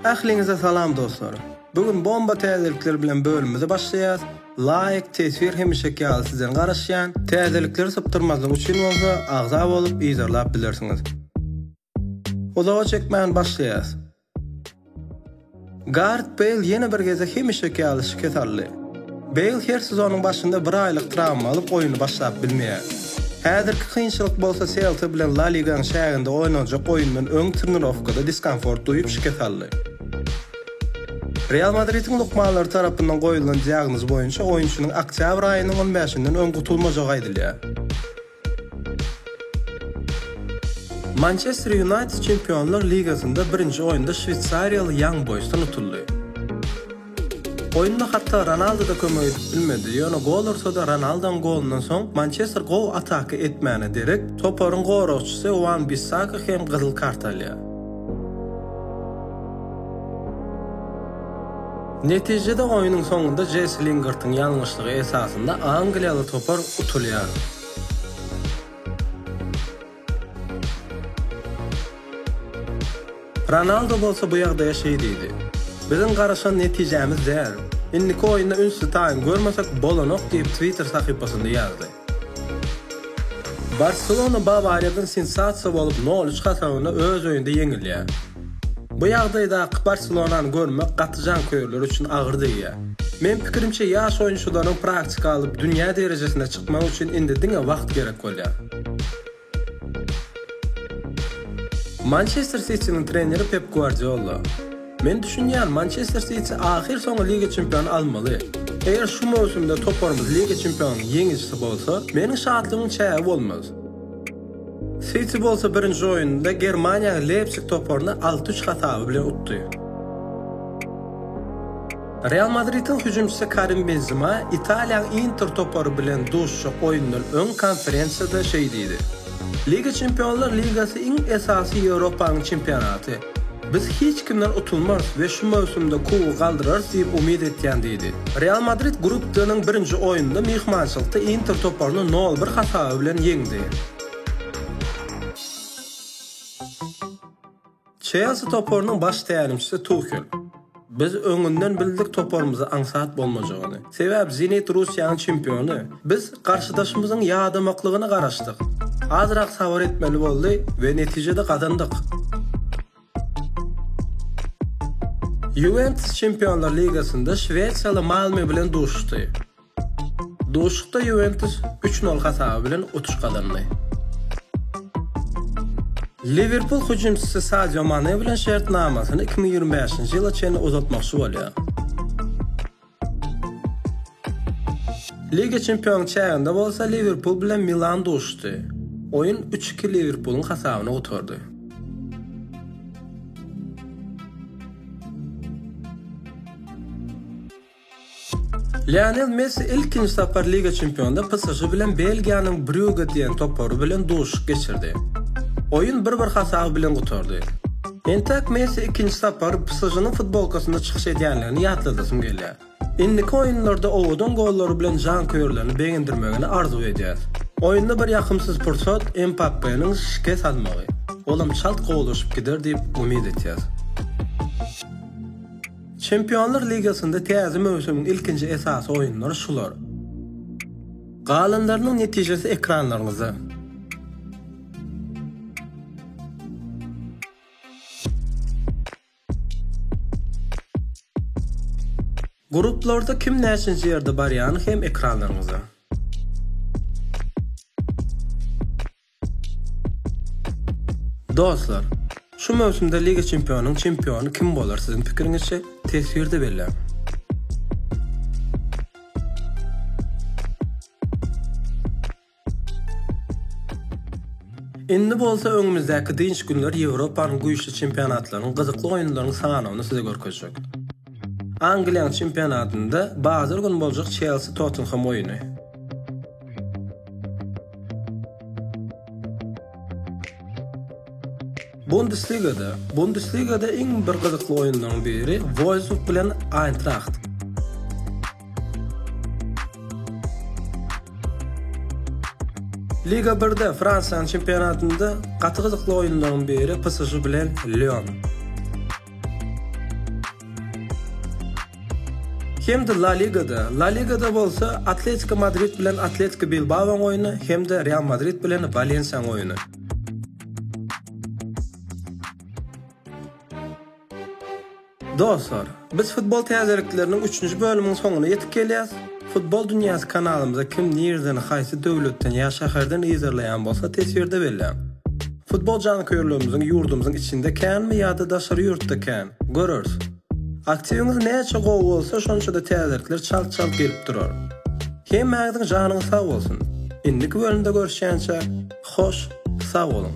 Ähliňize salam dostlar. Bu gün bomba täzelikler bilen bölümimizi başlaýas. Laýk, teswir hemişeki ýaly sizden garaşýan. Täzelikleri sypdyrmazlyk üçin bolsa agza bolup yzarlap bilersiňiz. Uzaga çekmän başlaýas. Garet Beýl ýene bir gezek hemişeki ýaly şikes aldy. Beýl her sezonyň başynda bir aýlyk trawma alyp oýny başlap bilmeýär. Häzirki kynçylyk bolsa Selta bilen La Ligaň çäginde oýnanjak oýundan öň trenirowkada diskomfort duýup şikes aldy. Real Madridiň lukmanlary tarapyndan goýulan diagnoz boýunça oýunçynyň oktýabr aýynyň on bäşinden öň gutulmajagy aýdylýar. Mançester Ýunaýted Çempionlar ligasynda birinji oýunda şweýsariýaly Ýang Boýsdan utuldy. Oýunda hatda Ronaldo-da kömek edip bilmedi, ýöne gol ursa-da Ronaldoň golundan soň Mançester gowy ataka etmäne derek, toparyň goragçysy Wan-Bissaka hem gyzyl kart alýar. Netijede oýnuň soňunda Jessi Lingartyň ýalňyşlygy esasynda angliýaly topar utulýar. Ronaldo bolsa bu ýagdaýa şeý diýdi, Biziň garaşan netijämiz däl. Indiki oýunda üns-sytaýyň görmesek bolanok diýip Twitter sahypasynda ýazdy. Barselona Bawariýadan sensasiýa bolup nol üç hasabynda öz öýünde ýeňilýär. Bu ýagdaýdaky Barselonany görmek gaty janköýerler üçin agyr degýär. Meň pikirimçe ýaş oýunçylaryň praktika alyp dünýä derejesine çykmagy üçin indi diňe wagt gerek bolýar. Mançester Sitiniň treneri Pep Guardiola, Men düşünýän, Mançester Siti ahyrsoňy Liga çempiony almaly. Eger şu möwsümde toparymyz Liga çempionunyň ýeňijisi bolsa, meniň şatlygymyň çägi bolmaz. Siti bolsa birinji oýnunda Germaniýaly Leýpsig toparyny alty-üç hasaby bilen utdy. Real Madridiň hüjümçisi Karim Benzema Italiýaň Inter topary bilen duşuşjak oýundan öň konferensiýada şeý diýdi, Liga çempionlar ligasy iň esasy Ýewropanyň çempionaty. Biz hiç kimden utulmarys we şu möwsümde kubogy galdyrarys diýip umyt etýän diýdi. Real Madrid Grup D-niň birinji oýnunda myhmançylykda Inter toparyny nol bir hasaby bilen ýeňdi. Çelsi toparynyň baş tälimçisi Tuhel, Biz öňünden bildik toparymyzy aňsat bolmajagyny. Sebäbi Zenit Russiýanyň çempiony. Biz garşydaşymyzyň ýadamaklygyna garaşdyk. Azrak sabyr etmeli boldy we netijede gazandyk. Ýuwentus Çempionlar ligasynda şwesiýaly Malme bilen duşuşdy. Duşuşykda Ýuwentus üç nol hasaby bilen utuş gazandy. Liwerpul hüjümçisi Sadio Mane bilen şertnamasyny iki müň ýigrimi bäşinji ýyla çenli uzaltmakçy bolýar. Liga çempionyň çäginde bolsa Liwerpul bilen Milan duşuşdy. Oýun üç-iki Liwerpulyň hasabyna gutardy. Lionel Messi ilkinji sapar Liga çempionynda PSŽ bilen Belgiýanyň Brýuge diýen topary bilen duşuşyk geçirdi. Oýun bir-bir hasaby bilen gutardy. Entek Messi ikinji sapar PSŽ-niň futbolkasynda çykyş edýänligini ýatladasym gelýär. Indiki oýunlarda owadan gollary bilen janköýerlerini begendirmegini arzuw edýäs. Oýunda bir ýakymsyz pursat Mbappe-niň şikes almagy. Olam çalt gowulaşyp gider diýip umyt etýäs. Çempionlar ligasynda täze möwsümiň ilkinji esasy oýunlary şular. Galanlarynyň netijesi ekranlaryňyzda. Gruplarda kim näçinji ýerde barýany hem ekranlaryňyzda. Dostlar, şu möwsümde Liga Çempionuň çempiony kim bolar siziň pikiriňizçe? Teswirde belläň. Indi bolsa öňümizdäki dynç günler Ýewropanyň güýçli çempionatlarynyň gyzykly oýunlaryň sanawyny size görkezjek. Angliýanyň çempionatynda bazar güni boljak Çelsi-Tottenhem oýuny. Bundesligada Bundesligada iň bir gyzykly oýunlaryň biri Wolfsburg bilen Eintracht. Liga 1-de Fransiýanyň çempionatynda gaty gyzykly oýunlaryň biri PSG bilen Lyon. Hem-de La Ligada, La Ligada bolsa Atletiko Madrid bilen Atletiko Bilbaoň oýny hem-de Real Madrid bilen Walensiýaň oýny. Dostlar, biz futbol täzelikleriniň üçünji bölümiň soňuna ýetip gelýäs. Futbol dünýäsi kanalymyza kim nireden, haýsy döwletden ýa şäherden yzarlaýan bolsa teswirde belläň. Futbol janköýerlerimiziň ýurdumyzyň içinde känmi ýa-da daşary ýurtda kän? Göreris. Aktiwiňiz näçe gowy bolsa, şonça-da täzelikler çalt-çalt gelip durar. Hemmäňiziň janyňyz sag bolsun! Indiki bölümde görüşýänçä, hoş, sag boluň!